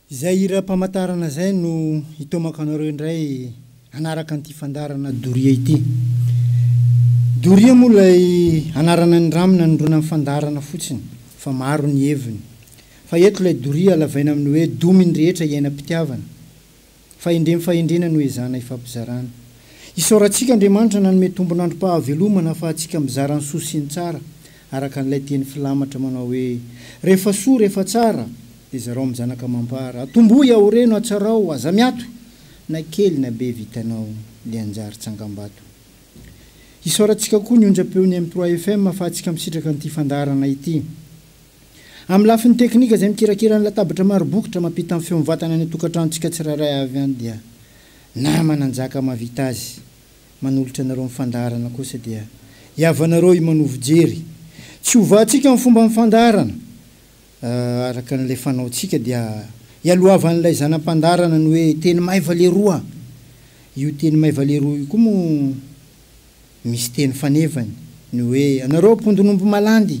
Izay hiram-pamantarana izay no hitomako anareo indray hanaraka an'ity fandaharana doria ity. Doria moa ilay anarana niramin'ny nanondroana ny fandaharana fotsiny fa maro ny heviny. Fa eto ilay doria halavaina amin'ny hoe domin'ny rehetra iainam-pitiavana. Fahendrem fahendrena no ezahana ifampizarana. Isaorantsika Andriamanitra nanome tombon'androm-pahavelomana ahafahantsika mizara ny soa sy ny tsara, araka an'ilay teny filamatra manao hoe, Rehefa soa, rehefa tsara, dia zarao amin'ny zanaka amam-para. Atombohy, aoreno, atsarao, aza miato, na kely na be vitanao le hanjary tsangambato. Isaorantsika koa ny onjam-peon'ny M3FM ahafahantsika misitraka an'ity fandaharana ity. Amin'ny lafiny teknika izay mikirakira ny latabatra maro bokotra mampita ny feo mivantana any an-tokantranontsika tsirairay avy any dia nama nanjaka mahavita azy, manolotra anareo ny fandaharana kosa dia hiavanareo himanovo jery tsy hovahantsika ny fomban'ny fandaharana araka an'ilay fanaontsika dia ialohavan'ilay zanam-pandaharana ny hoe teny maiva leroa io teny maiva leroa io koa moa misy teny fanevany ny hoe anareo mpondin'omby malandy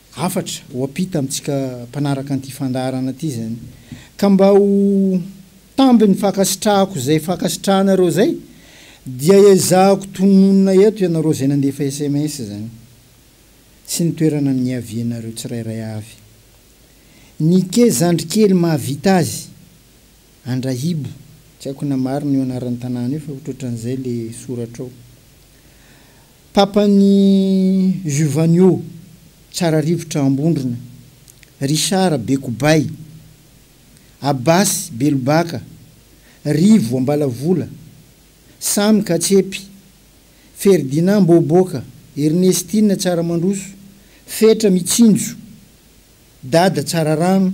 hafatra ho ampita amintsika mpanaraka an'ity fandaharana ity izany. Ka mba ho tambin'ny fankasitrahako izay fankasitrahanareo izay dia ezahako tononina eto ianareo izay nandefa sms izany sy ny toerana niavianareo tsirairay avy. Nike Zandrikely mahavita azy, Andrahibo, tsy haiko na marina io anaran'ny tanàna io fa ohatrohatran'izay ilay soratra ao. Papan'i Giovanio tsara rivotra Ambondrona, Richard Bekobay, Abbas Belobaka, Rivo Ambalavola, Samy Katsepy, Ferdinand Mboboka, Ernestine Tsaramandroso, Fetra Mitsinjo, Dada Tsararano,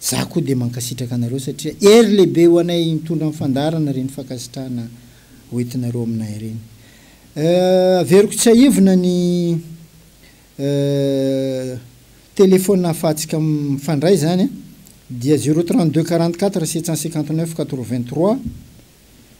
Za koa dia mankasitraka anareo satria hery lehibe ho anay hitondra ny fandaharana ireny fankasitrahana hoentinareo aminay ireny. Averiko tsiahivina ny telephone ahafahantsika mifandray izany dia zero trente deux quarante quatre sept cent cinquante neuf quatre vingt trois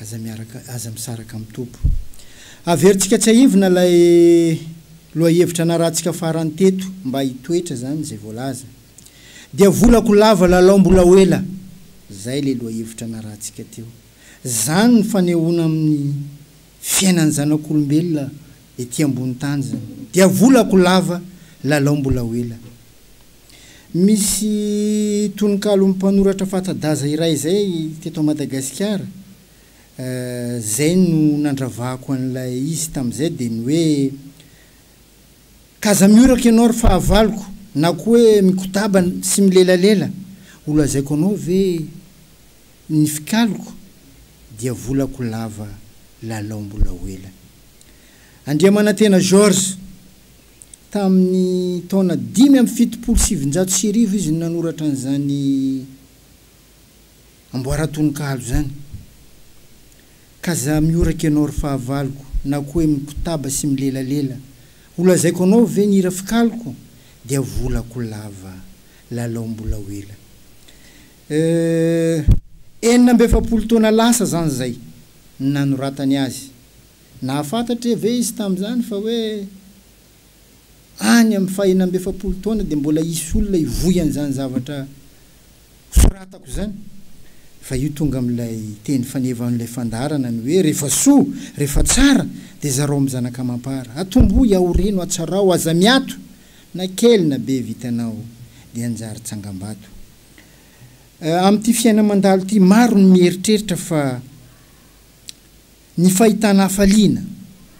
Aza miaraka, aza misaraka amin'ny Tompo. Averintsika tsiahivina ilay lohahevitra narahantsika farany teto, mba hitoetra izany izay voalaza. Dia volako lava lalao mbola ho ela, izay ilay lohahevitra narahantsika teo. Izany ny fanehoana amin'ny fiainan'ny zanak'olombelona ety ambony tany izany. Dia volako lava lalao mbola ho ela. Misy tononkalon'ny mpanoratra fata-daza iray izay teto Madagasikara, izay no nandravako an'ilay izy tamin'izay dia ny hoe, K'aza mihoraka ianao ry fahavaloko na koa hoe mikodaba sy milelalela, ho lazaiko anao ve ny fikaliko dia volako lava lalao mbola ho ela. Andriamanantena Georges. Tamin'ny taona dimy amby fitopolo sy sivinjato sy arivo izy no nanoratra an'izany amboaran-tononkalo izany, Ka za mihoraka ianao ry fahavaloko, na koa hoe mikotaba sy milelalela, Ho lazaiko anao ve ny hira fikaliko? Dia volako lava, lalao mbola ho ela. Euh, enina amby efapolo taona lasa izany izay no nanoratany azy. Nahafantatry ve izy tamin'izany fa hoe any amin'ny fahenina amby efapolo taona dia mbola hisy olona hivoy an'izany zavatra soratako izany? Fa io tonga amin'ilay teny faneva an'ilay fandaharana ny hoe, Rehefa soa, rehefa tsara, dia zarao amin'ny zanaka amam-para. Atombohy, ahorino, atsarao, aza miato, na kely na be vitanao dia hanjary tsangambato. Amin'ity fiaina mandalo ity, maro ny mieritreritra fa ny fahitana hafaliana,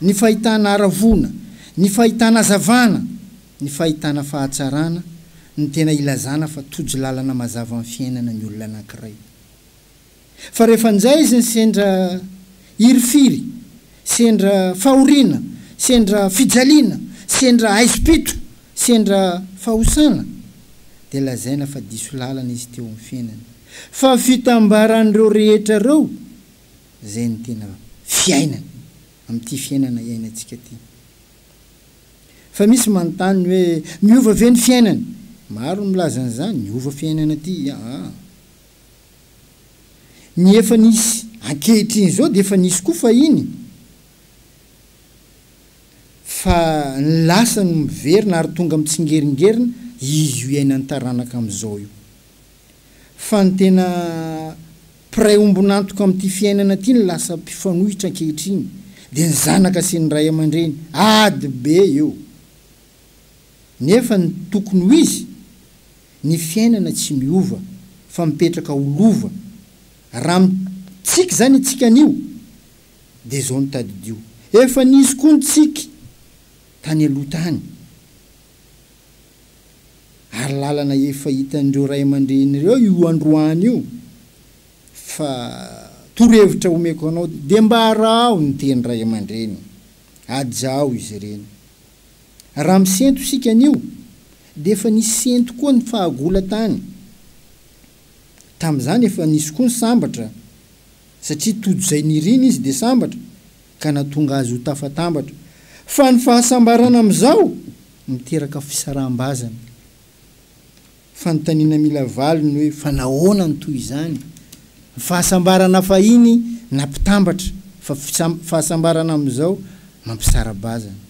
ny fahitana haravoana, ny fahitana hazavana, ny fahitana fahatsarana no tena ilazana fa tojo lalana mazava amin'ny fiainana ny olona anankiray. Fa rehefa njay izy ny sendra hirifiry, sendra fahoriana, sendra fijaliana, sendra haizim-pito, sendra fahosana, dia lazaina fa diso lalana izy teo amin'ny fiainany. Fa fitambaran'ireo rehetra ireo izay no tena fiainany amin'ity fiainana iainantsika ity. Fa misy manontany ny hoe, miova ve ny fiainana? Maro ny milaza an'izany, miova fiainana ity, aa. Ny efa nisy ankehitriny izao dia efa nisy koa fahiny, fa ny lasa no miverina ary tonga mitsingeringerina izy io iainan'ny taranaka amin'izao io. fa ny tena mpiray ombon'antoka amin'ity fiainana ity no lasa mpifanohitra ankehitriny dia ny zanaka sy ny ray aman-dreny ady be eo nefa ny tokony ho izy ny fiainana tsy miova fa mipetraka ho lova raha mitsiky izany itsika anio dia izao no tadidio efa nisy koa ny tsiky tany aloha tany Ary lalana efa hitan'ireo ray aman-dreny ireo io androany io fa torohevitra omeko anao dia mba araho ny teny ray aman-dreny, ajaho izy ireny. Raha misento isika anio dia efa nisento koa ny fahagola tany. Tamin'izany efa nisy koa ny sambatra satria tojo izay niriny izy dia sambatra ka natonga azy ho tafatambatra, fa ny fahasambarana amin'izao miteraka fisaraham-bazana. Fanontaniana mila valiny hoe fa nahoana no toy izany? Ny fahasambarana fahiny nampitambatra, fa fahasambarana amin'izao mampisara-bazana.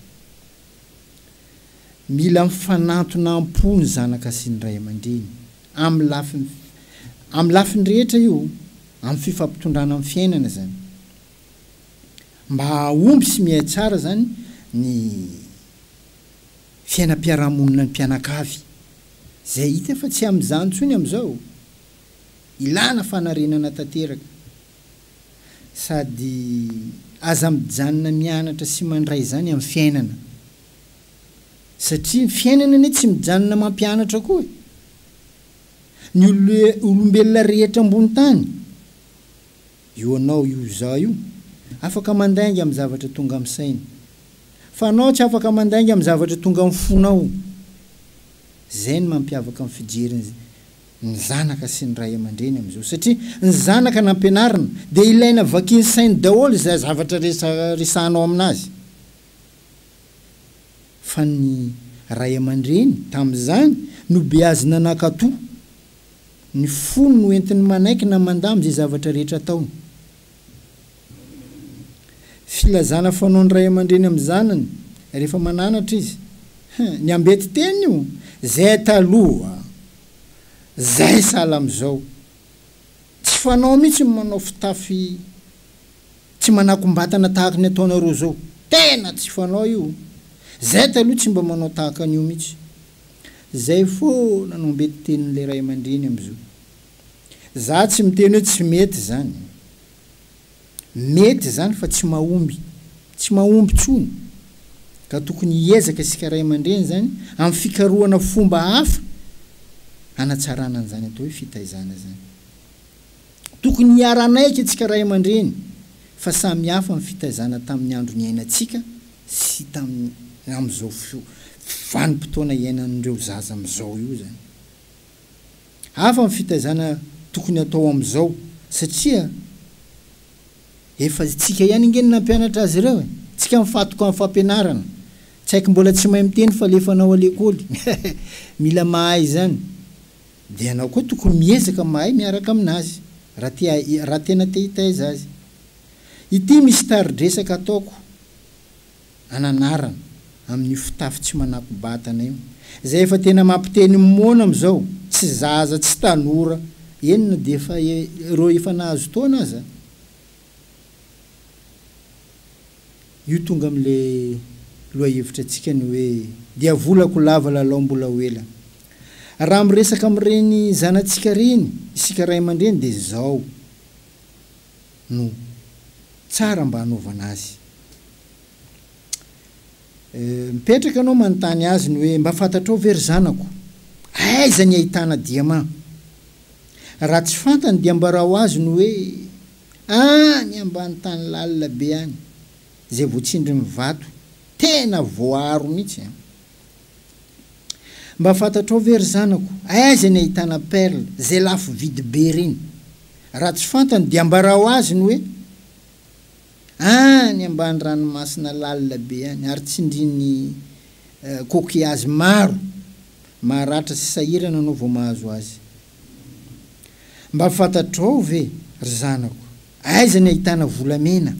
Mila mifanantona am-po ny zanaka sy ny ray aman-dreny, amin'ny lafiny amin'ny lafiny rehetra io, amin'ny fifampitondrana amin'ny fiainana izany. mba hahomby sy mihay tsara izany ny fiainam-piarahamonina ny mpianakavy, izay hita fa tsy amin'izany intsony amin'izao. Ilàna fanarenana tanteraka. Sady aza mijanona mianatra sy mandray izany amin'ny fiainana. Satria ny fiainana anie tsy mijanona mampianatra koa e! Ny olombelona rehetra ambony tany Io anao io izaho io afaka mandainga amin'ny zavatra tonga amin'ny saina. Fa anao tsy afaka mandainga amin'ny zavatra tonga amin'ny fonao. Izay no mampiavaka ny fijery ny zanaka sy ny ray aman-dreny amin'izao. Satria ny zanaka nampianarina dia ilaina vakian'ny sainy daholo izay zavatra resaresahanao aminazy. Fa ny ray aman-dreny tamin'izany no beazina nankato Ny fony no entiny manaiky na mandamy izay zavatra rehetra ataony. Filazana fanaon'ny ray aman-dreny amin'ny zanany rehefa mananatra izy. Hein, ny ambety teny io? Zay taloha, zay sahala amin'izao. Tsy fanao mihitsy ny manao fitafy tsy manakom-batana tahaka ny ataonareo izao. Tena tsy fanao io. Zay taloha tsy mba manao tahaka an'io mihitsy. Zay foana no mety tenin'ilay ray aman-dreny amzao. Za tsy miteny hoe tsy mety zany. Mety zany fa tsy mahomby. Tsy mahomby tsony. Ka tokony hiezaka isika ray aman-dreny zany am fikarohana fomba hafa hanatsarana an'zany atao hoe fitaizana zany. Tokony hiara-hanaiky antsika ray aman-dreny fa samy hafa ny fitaizana tamin'ny andro niainantsika sy tamin'ny amin'izao vanim-potoana iainan'ireo zaza amin'izao io izany. Hafa ny fitaizana tokony hatao amin'izao satria efa tsika ihany ange no nampianatra azy ireo e! Tsika mifatoka amin'ny fampianarana. Tsy haiko mbola tsy mahay miteny fa alefa anao alekoly. Mila mahay izany. Dia ianao koa tokony miezaka mahay miaraka aminazy raha tena te hitaiza azy. Ity misy tari-dresaka ataoko ananarana amin'io fitafy tsy manako-batana io, izay efa tena mampiteny moana amin'izao, tsy zaza, tsy tanora, eny na dia efa ireo efa nahazo taona aza. Io tonga amin'ilay lohahevitra antsika ny hoe dia volako lava lalao mbola ho ela. Raha miresaka amin'ireny zanatsika ireny isika ray aman-dreny dia izao, no tsara mba hanaovana azy. Mipetraka ianao manontany azy ny hoe, mba fantatrao ve ry zanako? Aiza ny ahitana diamà? Raha tsy fantany dia ambarao azy ny hoe, any ambany tany lalina be any, izay voatsindrin'ny vato, tena voaaro mihitsy. Mba fantatrao ve ry zanako aiza ny ahitana perle zay lafo vidy be reny? Raha tsy fantany dia ambarao azy ny hoe any ambany ranomasina lalina be any ary tsindrian'ny coquillages maro maharatra sy sahirana anao vao mahazo azy. Mba fantatrao ve ry zanako aiza ny ahitana volamena?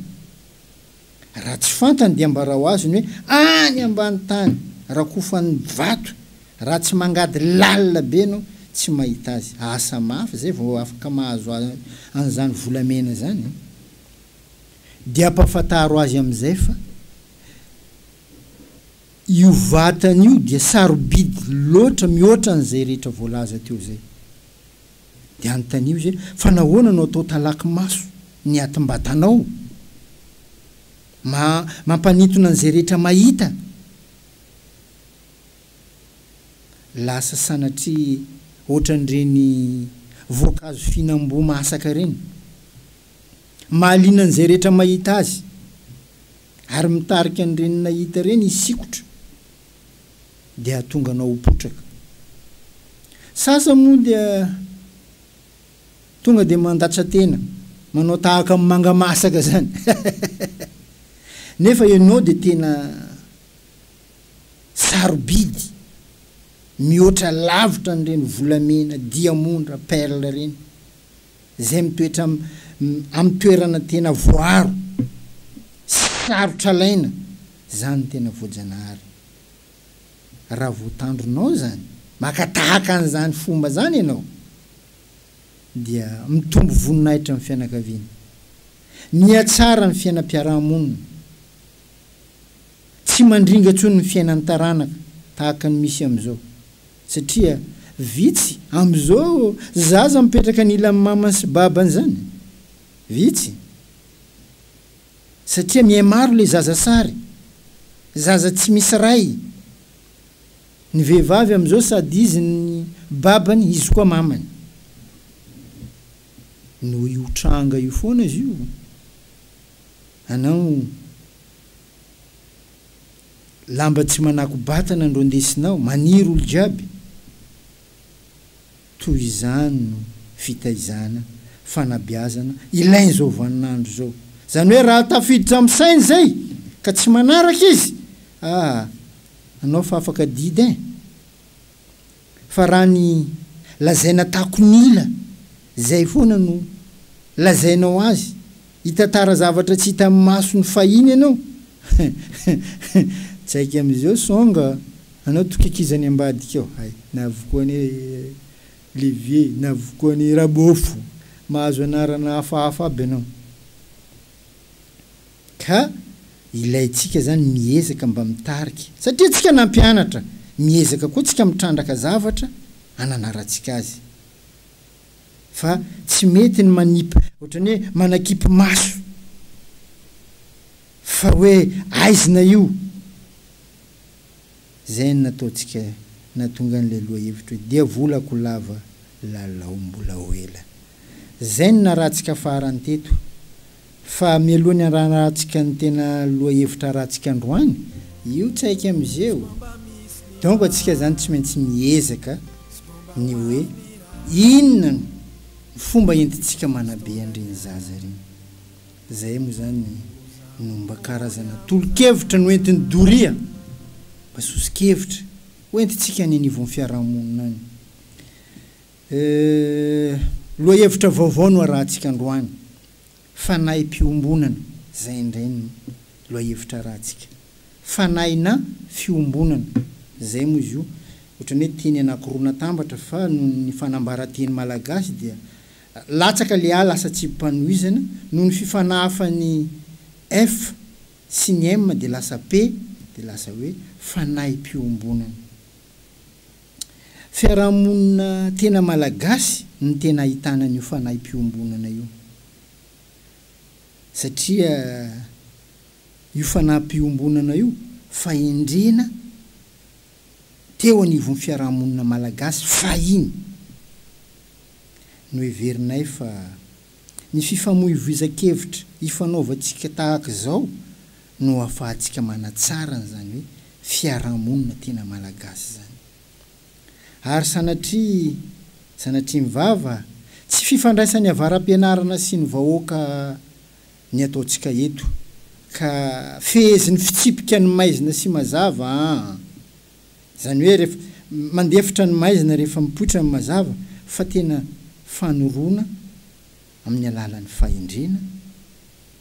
Raha tsy fantany dia ambarao azy ny hoe any ambany tany rakofany vato raha tsy mangady lalina be no tsy mahita azy. Asa mafy zay vao afaka mahazo an'izany volamena zany e! Dia ampafantaro azy amin'izay fa io vatany io dia sarobidy loatra mihoatra an'izay rehetra voalaza teo zay. Dia anontanio izy hoe, Fa nahoana no atao talaky maso ny atim-batanao? Ma, mampanintona an'izay rehetra mahita. Lasa sanatria hoatran'ireny voankazo fihinam-boa mahasaka ireny. Mahaliana an'izay rehetra mahita azy. Ary mitarika an'ireny nahita ireny hisikotra dia hahatonga anao ho potraka. Sasany moa dia tonga dia mandatsa-tena, manao tahaka ny manga masaka izany, nefa ianao dia tena sarobidy, mihoatra lavitra an'ireny volamena, diamondra, perle ireny. izay mitoetra amin'ny toerana tena voaaro sy sarotra alaina izany tena voajanahary. Raha voatandronao izany, maka tahaka an'izany fomba izany ianao dia mitombo voninahitra ny fianakaviana, mihatsara ny fiainam-piaraha-monina, tsy mandringa intsony ny fiainan'ny taranaka tahaka ny misy amin'izao. Satria vitsy amin'izao zaza mipetraka anilan'ny mamany sy babany izany. Vitsy. Satria mihamaro ilay zaza sary. Zaza tsy misy ray. Ny vehivavy amin'izao sady izy ny babany izy koa mamany. Noho io tranga io foana izy io. Anao. Lamba tsy manako batana ndro ndesinao maniry olo jiaby toy izany no fitaizana fanabiazana ilain zao vaninandro zao zany hoe raha tafiditra am sainy zay ka tsy manaraka izy ah anao fa afaka didy ein. fa raha ny lazaina takonila zay foana no lazainao azy hitantara zavatra tsy hita amin'ny masony fahiny ianao tsy haiko amizao song anao tokikizany ambadika ao hay navokoany levier navokoany rabofo mahazo anarana hafahafa aby ianao. ka ilaintsika izany ny miezaka mba mitarika satria tsika nampianatra, miezaka koa tsika mitrandraka zavatra ananarantsika azy fa tsy mety ny manipy ohatran'ny hoe manakipy maso fa hoe aizina io. Izay no nataontsika nahatonga an'ilay lohahevitra hoe dia volako lava lalao mbola ho ela. Izay no narahantsika farany teto. Fa mialoha ny hanarahantsika ny tena lohahevitra harahantsika androany, io tsaika musée o! donc antsika izany tsy maintsy miezaka ny hoe inona no fomba entintsika manabe an'ireny zaza ireny. Izay moa izany no mba karazana tolo-kevitra no entin'i Doria mba soso-kevitra ho entintsika any anivon'ny fiarahamonina any. Euh, lohahevitra vaovao no arahantsika androany, fanahim-piombonana, izay indray no lohahevitra arahantsika. Fanahina fiombonana, izay moa izy io, ohatran'ny hoe teny anankiroa natambatra fa noho ny fanambaran-teny malagasy dia Latsaka le A lasa tsibim-panohizana noho ny fifanahafan'ny F sy ny M dia lasa P dia lasa hoe fanahim-piombonana. Fiarahamonina tena malagasy no tena ahitana an'io fanahim-piombonana io satria io fanahim-piombonana io fahendrena teo anivon'ny fiarahamonina malagasy fahiny. Noheverinay fa ny fifamoivoizan-kevitra ifanaovantsika tahaka izao no ahafahantsika manatsara an'izany hoe fiarahamonina tena malagasy izany. Ary sanatria, sanatria ny vava, tsy fifandraisan'ny avara-pianarana sy ny vahoaka ny ataontsika eto, ka fehezin'ny fitsipika ny maizina sy mazava an! Izany hoe rehefa mandefitra ny maizina rehefa mipoitra ny mazava fa tena fanoroana amin'ny alalan'ny fahendrena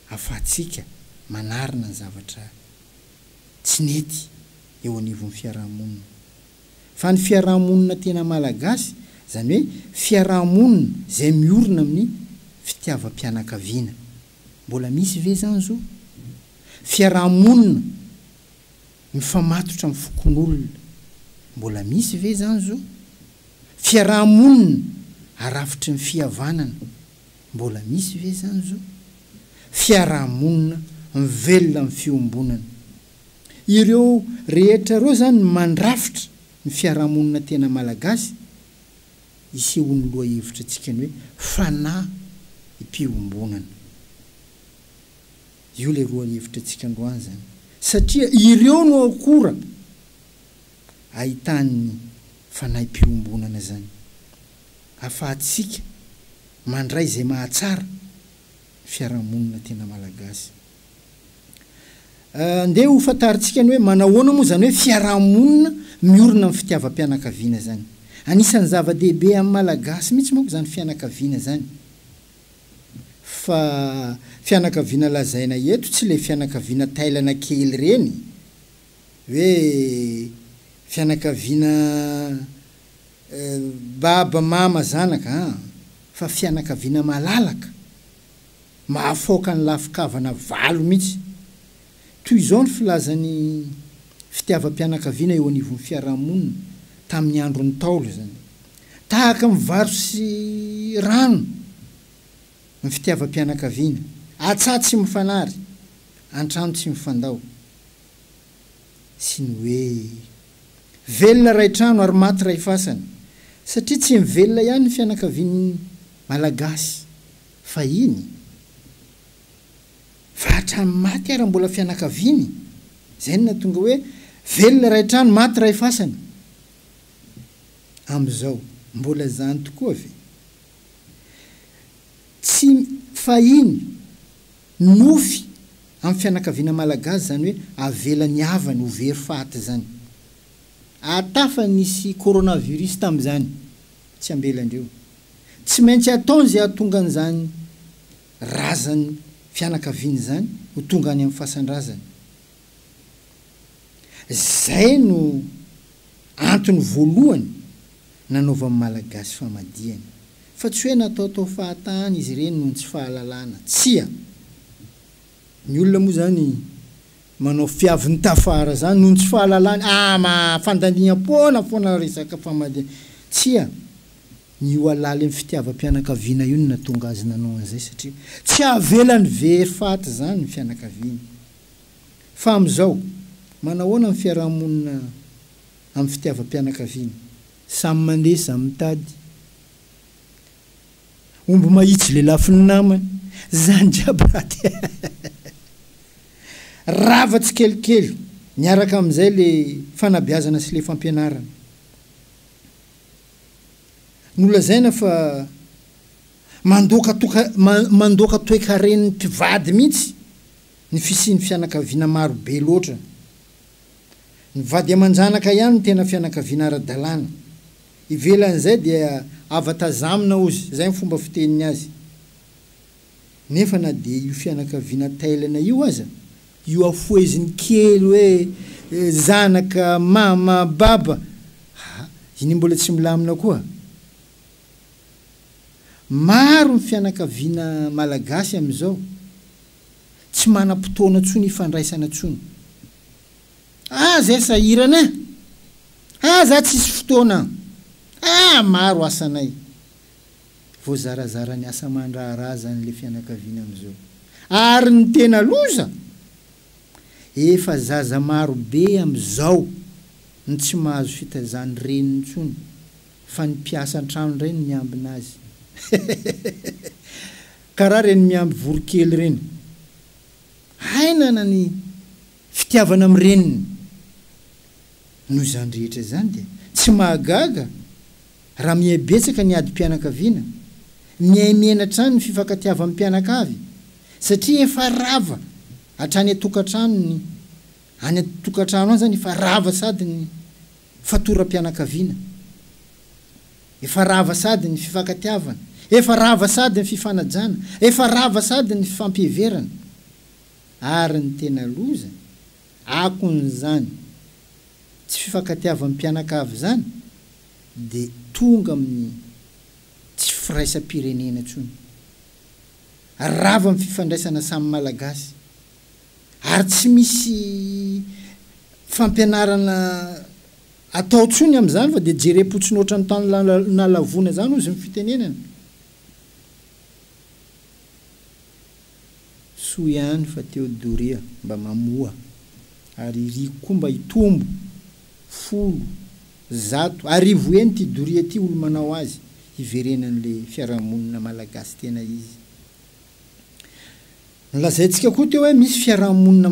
afahantsika manarina ny zavatra tsy nety eo anivon'ny fiaraha-monina. Fa ny fiaraha-monina tena malagasy, izany hoe fiaraha-monina izay miorina amin'ny fitiavam-pianakaviana, mbola misy ve izany izao? Fiaraha-monina. Mifamatotra amin'ny fokonolona, mbola misy ve izany zo? Fiaraha-monina arafitry ny fihavanana, mbola misy ve izany zo? Fiaraha-monina mivelona amin'ny fiombonana. Ireo rehetra ireo izany no mandrafitra ny fiaraha-monina tena malagasy, isehoan'ny lohahevitra antsika ny hoe fanahy mpiombonana. Io ilay roa hevitra antsika androany izany. Satria ireo no akora ahitan'ny fanahim-piombonana izany. Ahafahantsika mandray izay mahatsara ny fiarahamonina tena malagasy. Andeha ho fantarintsika ny hoe manahoana moa izany hoe fiarahamonina miorina amin'ny fitiavam-pianakaviana izany. Anisan'ny zava-dehibe amin'ny malagasy mihitsy manko izany fianakaviana izany. Fa fianakaviana lazaina eto tsy le fianakaviana tailana kely reny hoe fianakaviana baba mama zanaka an! Fa fianakaviana malalaka, mahafaoka ny lafin-kavana valo mihitsy. Toy izao ny filazan'ny fitiavam-pianakaviana eo anivon'ny fiarahamonina tamin'ny andron'ny Ntaolo izany. Tahaka ny vary sy rano ny fitiavam-pianakaviana, an-tsaha tsy mifanary, an-trano tsy mifandao. Sy ny hoe, velona iray trano ary maty iray fasana, satria tsy mivelona ihany ny fianakavian'ny Malagasy fahiny, fa hatramin'ny maty ary mbola fianakaviany. Izay no nahatonga hoe, velona iray trano, maty iray fasana. Amin'izao, mbola izany tokoa ve? Tsy fahiny, nofy amin'ny fianakaviana malagasy izany hoe avela ny havany ho very faty izany. Ary tafa nisy coronavirus tamin'izany, tsy ambelan-dreo. Tsy maintsy ataony izay hahatonga an'izany razan'ny fianakaviana izany ho tonga any amin'ny fasan-drazany. Izay no antony voalohany nanaovan'ny Malagasy famadihana. Fa tsy hoe nataotao fahatany izy ireny noho ny tsy fahalalana. Tsia! Ny olona moa izany manao fiaviny tafara izany noho ny tsy fahalalany. Ama! Fandaniam-poana foana raha resaka famadihana. Tsia! Ny io halalin'ny fitiavam-pianakaviana io no nahatonga azy nanao an'izay satria tsy havelany very faty izany ny fianakaviany. Fa amin'izao, manahoana ny fiaraha-monina amin'ny fitiavam-pianakaviana? Samy mandeha, samy mitady omby mahitsy lelafin'ny namany, izany jiaby raty e! Rava tsikelikely, miaraka amin'izay ilay fanabeazana sy ilay fampianarana. Nolazaina fa mandoaka toeka, mandoaka toekaren'ny mpivady mihitsy Ny fisian'ny fianakaviana maro be loatra. Ny vady aman-janaka ihany no tena fianakaviana ara-dalàna. Ivelan'izay dia ava tazamina ozy, izay ny fomba fiteniny azy. Nefa na dia io fianakaviana tailana io aza, io afoheziny kely hoe zanaka, mama, baba ah iny mbola tsy milamina koa. Maro ny fianakaviana malagasy amin'izao tsy manam-potoana intsony hifandraisana intsony. Ah zay sahirana eh! Ah za tsisy fotoana an! Ah maro asanay! Voazarazara ny asa aman-draharaha zany le fianakaviana amzao. Ary ny tena loza? Efa zaza marobe amzao ny tsy mahazo fitaizan'ny reniny intsony Fa ny mpiasa antrano indray no miambina azy. Karaha ireny miamby voronkely ireny. Hainana ny fitiavana amin'ny reniny. Noho izany rehetra izany dia tsy mahagaga raha miha betsaka ny adim-pianakaviana mihaimiaina hatrany ny fifankatiavam-pianakavy satria efa rava hatrany an-tokantrano ny any an-tokantrano any izany efa rava sady ny Fatoram-pianakaviana. Efa rava sady ny fifankatiavana, efa rava sady ny fifanajana, efa rava sady ny fifampiheverana. Ary ny tena loza, akon'izany tsy fifankatiavam-pianakavy izany dia tonga amin'ny tsy firaisam-pirenena intsony. Rava amin'ny fifandraisana samy Malagasy. ary tsy misy fampianarana atao tsony amzany fa dia jerem-potsiny otrany tany nalavoina zany ozy ny fitenenana. Soa ihany fa teo doria mba mamoha ary iriko koa mba hitombo folo, zato, arivo heny ty doria ty olo manao azy hiverenan'le fiarahamonina malagasy tena izy. Nolazaintsika koa teo hoe misy fiaraha-monina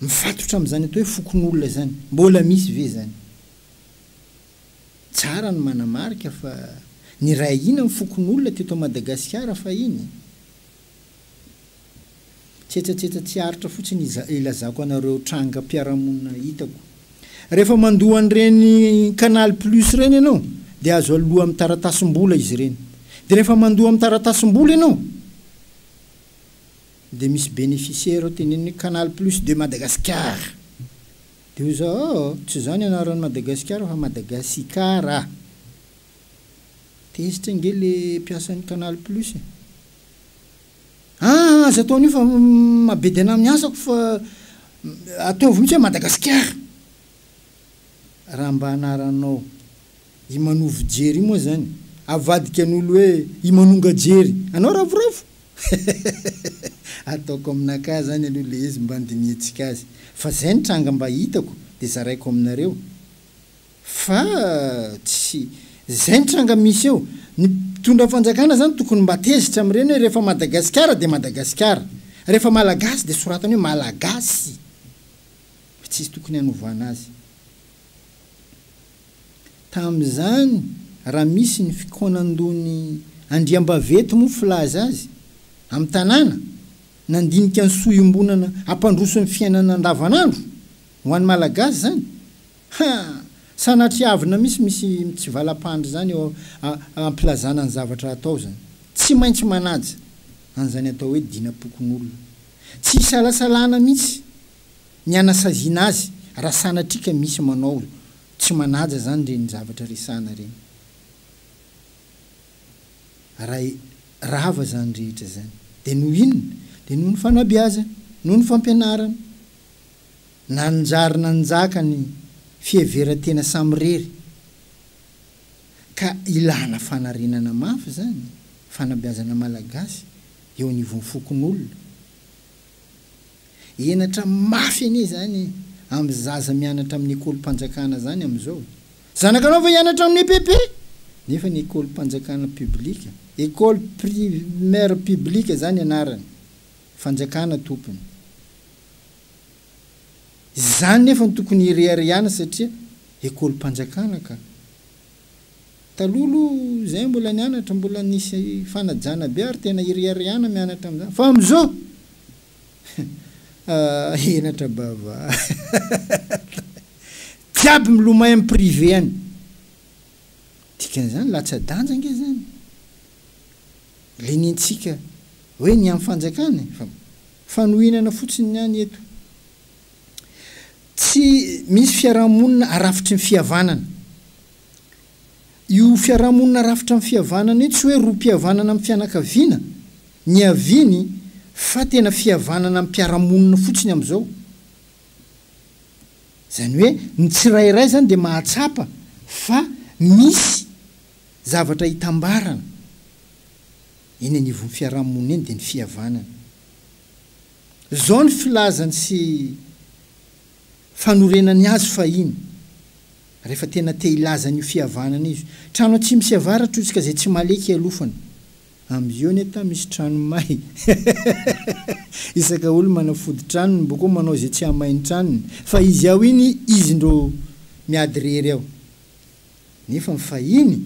mifatotra amin'izany atao hoe fokonolona izany. Mbola misy ve izany? Tsara ny manamarika fa niray ahiana ny fokonolona teto Madagasikara fahiny. Tsetsatsetsa tsy aritra fotsiny ilazako anareo trangam-piarahamonina hitako. Rehefa mandoa an'ireny Canal Plus ireny ianao dia azo aloa amin'ny taratasim-bola izy ireny. Dia rehefa mandoa amin'ny taratasim-bola ianao, dia misy bénéficiaire ao teneniny hoe Canal Plus de Madagascar. Dia hoy izaho, oh! tsy izany anaran'i Madagasikara fa Madagasikara. Tezitra ange ilay mpiasan'ny Canal Plus e! Aa! aza atao an'io fa mabedy anà amin'ny asako fa ataovy mihitsy hoe Madagasikara. raha mba anaranao i manovo jery io moa zany avadikan'olo hoe i manonga jery anao ravoravo ataoko aminakahy zany aloha le izy mba andinihantsika azy fa zay ny tranga mba hitako de zaraiko aminareo fa tsy zay ny tranga misy eo ny mpitondra fanjakana zany tokony mba tezitra amreny hoe refa madagasikara de madagasikara refa malagasy de soratany hoe malagasy. Fa tsisy tokony hanovana azy. Tamin'izany raha misy ny fikaonandon'ny andriambaventy moa filaza azy amin'ny tanàna nandinika ny soa iombonana hampandroso ny fiainana andavanandro ho an'ny malagasy izany ha! sanatria avina misy misy mitsivalam-pandry izany eo am-pilazana ny zavatra hatao izany. Tsy maintsy manaja an'izany atao hoe dinapokon'olona. Tsy isalasalana mihitsy. Ny hanasaziana azy raha sanatria ka misy manao tsy manaja zany reny zavatra resahana reny. Raha rava zany rehetra zany de noho inona? De noho ny fanabeazana, noho ny fampianarana. Nanjary nanjaka ny fiheveran-tena samirery ka ilana fanarenana mafy zany, fanabeazana malagasy eo anivon'ny fokonolona. Henatra mafy anie izany amin'ny zaza mianatra amin'ny ekolim-panjakana izany amin'izao. Zanakanao va hianatra amin'ny EPP? Nefa ny ekolim-panjakana public, école primaire publique izany anarany, fanjakana tompony. Izany nefa no tokony hireharehana satria ekolim-panjakana ka. Taloha aloha izay mbola nianatra mbola nisy fanajana be ary tena iriariana mianatra amin'izany fa amin'izao ah henatra bavata jiaby milomay amin'ny privé any. Dikan'izany latsa-danja ange izany ilay nentsika hoe ny amin'ny fanjakana e! Fa fanohinana fotsiny ny any eto Tsy misy fiaraha-monina arafitry ny fihavanana. Io fiaraha-monina arafitra amin'ny fihavanana io tsy hoe roa mpihavanana amin'ny fianakaviana niaviany fa tena fihavanana amim-piarahamonina fotsiny amin'izao. Izany hoe ny tsirairay izany dia mahatsapa fa misy zavatra itambarana eny anivon'ny fiaraha-monina eny dia ny fihavanana. Izao ny filazany sy fanorenany azy fahiny, rehefa tena te hilaza an'io fihavanana io, Trano atsimo sy avaratra io, tsy ka izay tsy maleky ialofana. Am yoneta misy trano may. Isaka olo manafody tranony mbo koa manao izay tsy hahamay ny tranony, fa izy ao iny izy indro miady rery ao. Nefa ny fahiny,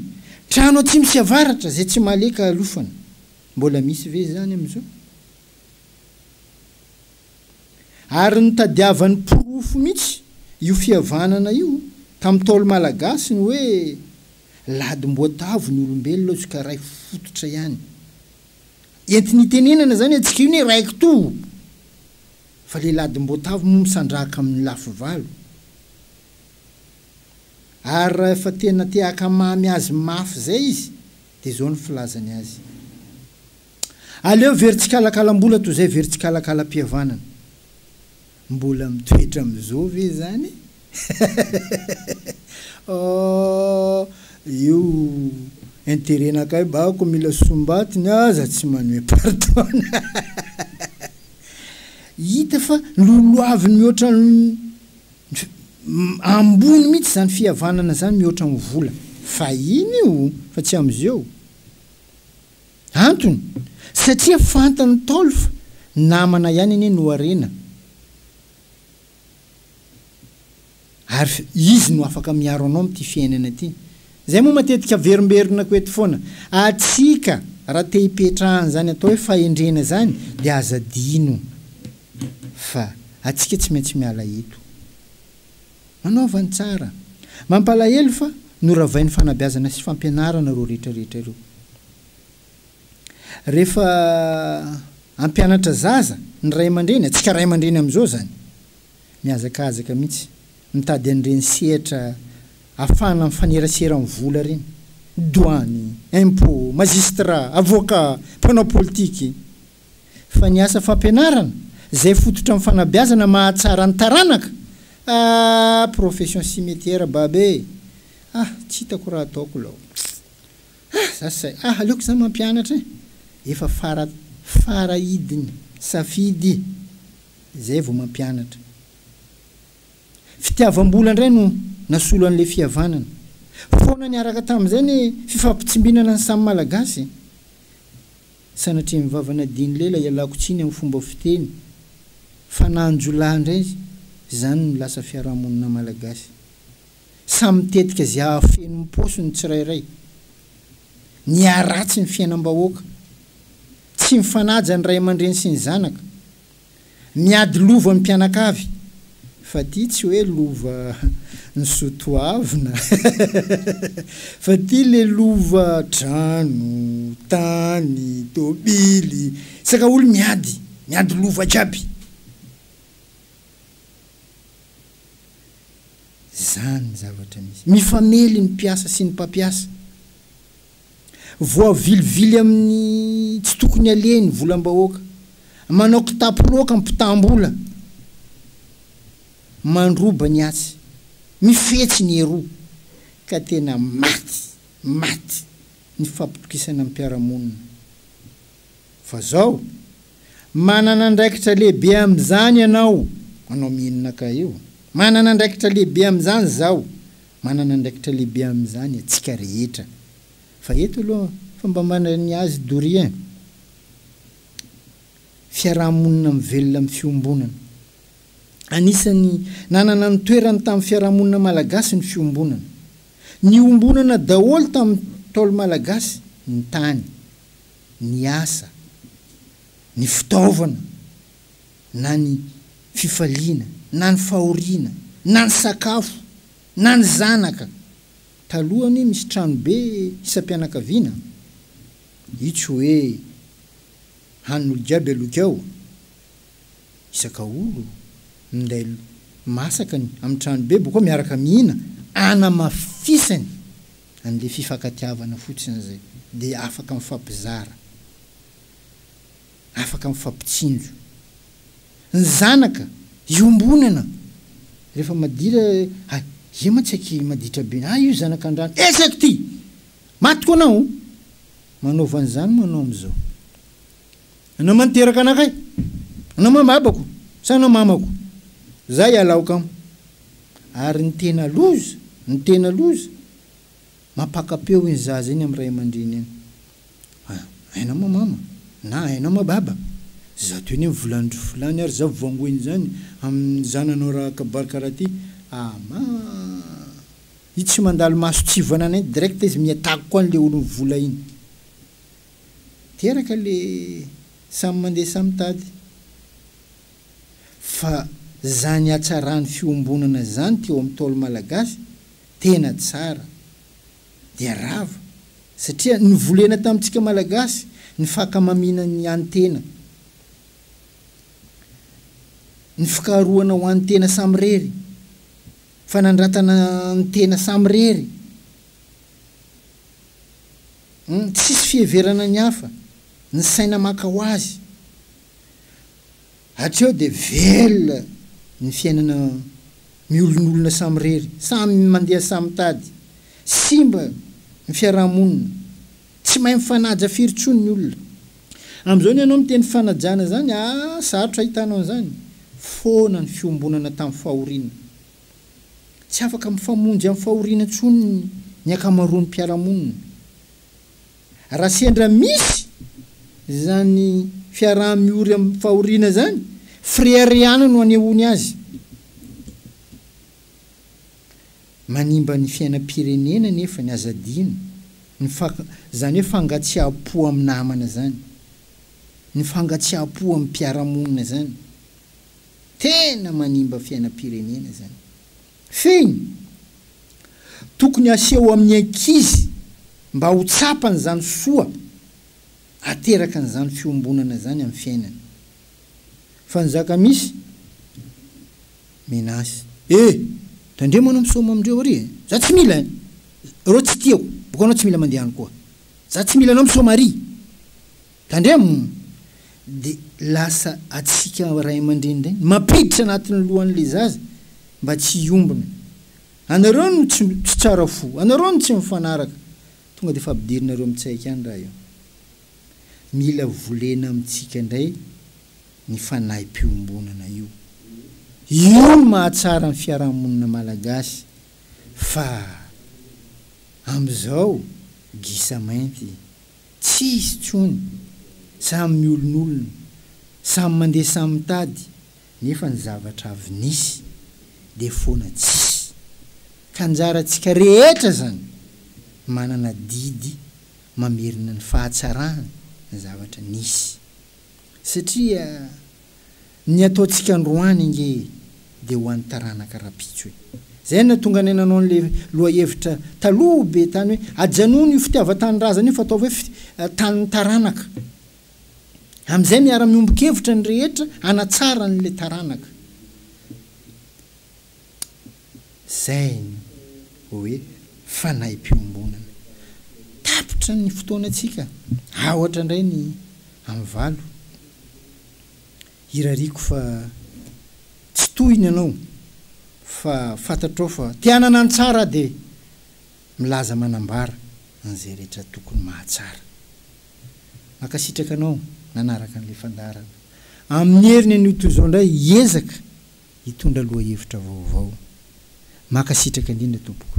Trano atsimo sy avaratra, izay tsy maleky ahalofana. Mbola misy ve izany amizao? Ary nitadiavany porofo mihitsy io fihavanana io tamin'ny Ntaolo malagasy ny hoe ladimboatavo ny olombelona hozy ka ray fototra ihany. Entiny itenenana izany antsika io ny hoe ray kitoa fa ilay ladimboatavo moa misandrahaka amin'ny lafy valo. Ary raha efa tena te-hakamamy azy mafy izay izy dia izao ny filazany azy. Aleo very tsikalakalam-bola toy izay very tsikalakalam-pihavanana. Mbola mitoetra amin'izao ve izany? Ohh, io intérêt-nakay bako mila sombatiny aza tsy manome pardon. Hita fa lolohaviny mihoatra ny ambony mihitsy izany fihavanana izany mihoatra ny vola. Fahiny io fa tsy amin'izeo. Antony, satria fantan'ny Ntaolo fa namana ihany anie no harena ary izy no afaka miaro anao amin'ity fiainana ity. Izay moa matetika averimberinako eto foana. Antsika, raha te hipetraha an'izany atao hoe fahendrena izany, dia aza adino fa antsika tsy maintsy miala eto. Manaova ny tsara. Mampalahelo fa noravain'ny fanabeazana sy fampianarana ireo rehetrarehetra ireo. Rehefa hampianatra zaza ny ray aman-dreny, antsika ray aman-dreny amin'izao izany, mihazakazaka mihitsy mitady an'ireny sehatra afahana mifanerasera amin'ny vola ireny, douane, impôt, magistrat, avocat, mpanao politika. fa ny asa fampianarana zay fototra am fanabeazana mahatsara ny taranaka aah profession cimetière bab e ah tsy hitako raha ataoko lao ah za say ah aleoko za mampianatra e efa fara fara idiny safidy zay vao mampianatra fitiavambola ndray no nasolo anle fihavanana foana niaraka tamzay ny fifampitsimbinana ny samy malagasy e. Sanatria mivavanadin'i lela ialako tsiny amin'ny fomba fiteny fanahn-jiolahy indray izany ny lasa fiarahamonina malagasy. Samy mitetika izay hahafeno ny paosiny ny tsirairay. Niharatsy ny fiainam-bahoaka. Tsy mifanaja ny ray aman-dreny sy ny zanaka. Miady lova ny mpianakavy fa ty tsy hoe lova ny sotoavina fa ty le lova trano, tany, tobily, saka olo miady, miady lova jiaby. Zany zavatra misy. Mifamely ny mpiasa sy ny mpampiasa. Voavilivily amin'ny tsy tokony aleha ny volam-bahoaka. Manao kitapo loaka ny mpitam-bola. Mandroba ny atsy. Mifetsy ny eroa. Ka tena maty, maty ny fampitokisana ny mpiara-monina. Fa izao, manana andraikitra lehibe amin'izany ianao, anao mihinin'akay io. Manana andraikitra lehibe amin'izany izaho. Manana andraikitra lehibe amin'izany atsika rehetra. Fa eto aloha fa mba manana ny azy doria fiarahamonina mivelona amin'ny fiombonana. Anisan'ny nanana ny toerany tamin'ny fiarahamonina malagasy ny fiombonana. Niombonana daholo tamin'ny Ntaolo malagasy ny tany, ny asa, ny fitaovana. na ny fifaliana, na ny fahoriana, na ny sakafo, na ny zanaka. Taloha anie misy tranobe isam-pianakaviana. Io tsy hoe hanin'olo jiaby aloky ao. Isaka olo minday masaka ny amin'ny tranobe boko ao miaraka mihina anamafisany an'ilay fifankatiavana fotsiny izay dia afaka mifampizara. afaka mifampitsinjo. Ny zanaka iombonana rehefa madira hay ye mantsy aky maditra be hay io zanaka andrano eh zako ty maty ko anao manaova an'izany moa anao amizao anao man teraka anakay anao man babako sa anao mamako za ialao kamo ary ny tena loza ny tena loza Mampaka-peo iny zaza iny amin'ny ray aman-dreny iny. Ah, aina ma mama? na aina ma baba? zato eny amin'ny volan-dry fulany ary za voangoina izany amin'ny zananao raha kabary karaha ty, ama! i tsy mandalo maso tsy hivoanana iny direct izy miha-tago koa an'le olon'ny vola iny. Teraka le samy mandeha samy mitady. Fa zany hatsaran'ny fiombonana zany teo amin'ny Ntaolo Malagasy Tena tsara dia rava satria novolena tamintsika malagasy ny fakamamiana ny any tena, ny fikaharohana ho any tena samirery, fanandratana ny tena samirery, ny tsisy fiheverana ny hafa, ny saina maka ho azy. Hatreo dia velona ny fiainana miolonolona samirery, samy mandeha samy mitady, simba ny fiaraha-monina, tsy mahay mifanaja firy intsony ny olona. Amin'izao ny anao miteny fanajana izany aa sarotra ahitanao an'izany, foana ny fiombonana tamin'ny fahoriana. Tsy afaka mifamonjy amin'ny fahoriana intsony ny ankamaroan'ny mpiara-monina. Raha sendra misy izany fiaraha-miory amin'ny fahoriana izany, freire ihany no anehoany azy. Manimba ny fiainam-pirenena anefa ny aza adino, ny izany hoe fangatsiaham-po amin'ny namana izany, ny fangatsiaham-po amin'ny mpiara-monina izany. Tena manimba fiainam-pirenena izany. Fehiny, Tokony aseho amin'ny ankizy mba ho tsapany izany soa aterakan'izany fiombonana izany amin'ny fiainany. Fa ny zaka-misy, Menace. E! Tandremo anao misaoma amindreo ary e! Za tsy mila e! Ireo tsy tiako, boka anao tsy mila mandeha any koa. Za tsy mila anao misaoma ary! Tandremo! Dia lasa atsika ray aman-dreny indray ny mampiditra anatin'ny lohan'ilay zaza mba tsy hiombona. Anareo no tsy tsy tsara fo, anareo no tsy mifanaraka, tonga dia efa ampidirinareo mitsaiky any raha io. Mila volena amintsika indray ny fanahim-piombonana io. Io no mahatsara ny fiarahamonina malagasy fa amin'izao gisa mainty. Tsy hisy intsony. Samy miolonolona, samy mandeha samy mitady, nefa ny zavatra avy nisy dia foana tsisy. Ka anjarantsika rehetra izany manana didy mamerina ny fahatsarana ny zavatra nisy. Satria. Ny ataontsika androany ange dia ho an'ny taranaka rapitso e! Zay no nahatonga anay nanao an'le lohahevitra taloha be tany hoe ajanony io fitiavan-tanindrazana io fa ataovy hoe tanin'ny taranaka. Amin'izay miara-miombon-kevitra ny rehetra hanatsara an'le taranaka. Zay no hoe fanahimpiombonana. Tapitra ny fotoanantsika. Aotra indray ny amin'ny valo. Hirariako fa tsy tohiny ianao fa fantatrao fa te hanana ny tsara aho dia milaza manambara an'izay rehetra tokony mahatsara. Mankasitraka anao nanaraka an'ilay fandaharana. Amin'ny heriny anio toy izao indray hiezaka hitondra lohahevitra vaovao. Mankasitraka indrindra tompoko.